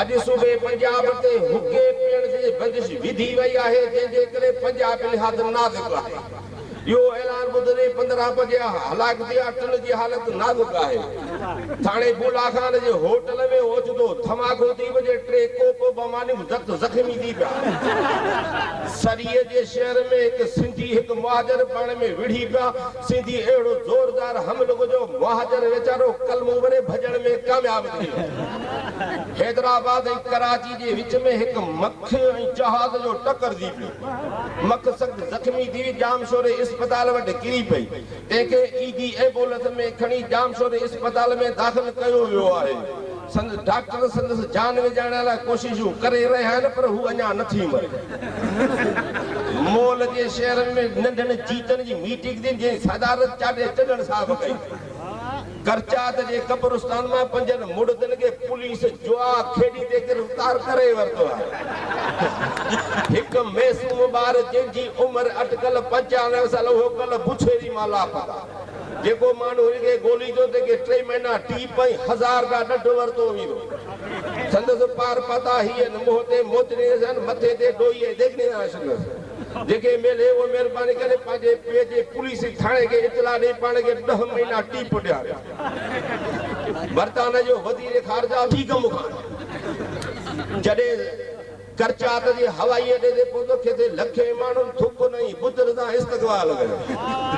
اڄ صوبي پنجاب تي حقي پيڻ جي بندش وڌي وئي آهي جنهن جي ڪري پنجاب نهايت نازڪ آهي اهو اعلان ٻڌندي پندرهن بجيا هلاڪ ٿيا ٽن جي حالت نازڪ آهي ٿاڻي بولا خان جي هوٽل ۾ اوچتو ڌماڪو ٿي وڃي ٽي ڪوپ بمانيون زخت زخمي ٿي پيا سري جي شهر ۾ هڪ سنڌي هڪ مهاجر پاڻ ۾ وڙهي پيا. سيدي اهڙو زوردار هم لڳو جو مهاجن ويچارو قلمون ڀري ڀڄڻ ۾ ڪامياب ٿي ويو. حيدرآباد ۽ ڪراچي جي وچ ۾ هڪ مک ۽ جهاز جو ٽڪر ٿي پيو. مک سخت زخمي ٿي ڄامشوري اسپتال وٽ ڪري پئي، تنهن کي ايڌي ايمبولنس ۾ کڻي ڄامشوري اسپتال ۾ داخل ڪيو ويو آهي. سندس ڊاڪٽر سندس جان ويجاڻڻ لاء ڪوششون ڪري رهيا آهن پر هو اڃا نٿي مري. مئل جي شهرن ۾ ننڍن جيتن جي ميٽنگ ٿي جنهن جي صدارت چاڍي چڏڻ صاحب ڪئي. ڪرچات جي قبرستان مان پنجن مڙدن کي پوليس جوا کيڏي تي گرفتار ڪري ورتو آهي. هڪ معصوم ٻار جنهن جي عمر اٽڪل پنجانوي سال اهو ڪلهه بڇيري مان لاپتا. جيڪو ماڻهو هن کي ڳوليندو، تنهن کي ٽي مهنا ٽيپ ۽ هزار گاهه ڏڍ ورتو ويندو. سندس پار پاتا هي هن، منهن تي موت ڏيندس هن، مٿي تي ڏوئي ۽ ڏيڳ ڏيندا هن سندس. جنهن کي ميلي اهو مهرباني ڪري پنهنجي پيء جي پوليس جي ٿاڻي کي اطلاع ڏئي پاڻ کي ڏهه مهينا ٽيپ ڏياري. برطانيا جو وزير خارجه ٿي ڪم کان جڏهن ڪرچات جي هوائي اڏي تي پهتو، جتي لکين ماڻهن ٿوڪن ۽ بتن سان استقبال ڪيو.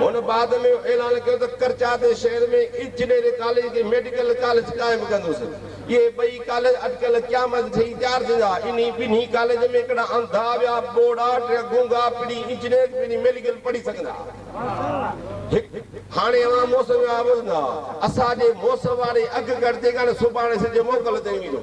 هن بعد ۾ اهو اعلان ڪيو ته ڪرچات شهر ۾ انجنيرنگ ڪاليج کي ميڊيڪل ڪاليج قائم ڪندس. اهي ٻئي ڪاليج اٽڪل قيامت جي ٺهي تيار ٿيندا. انهي ٻنهي ڪاليج ۾ ڪهڙا انڌا ويا، ٻوڙا، ٽيا گونگا پڻي انجنيرنگ پڻي ميڊيڪل پڙهي سگهندا. هڪ. هاڻي اوهان موسم جا ٻڌندا. اسان جي موسم واري اڳڪٿي ڪاڻي سڀاڻي سج موڪل تي ايندو.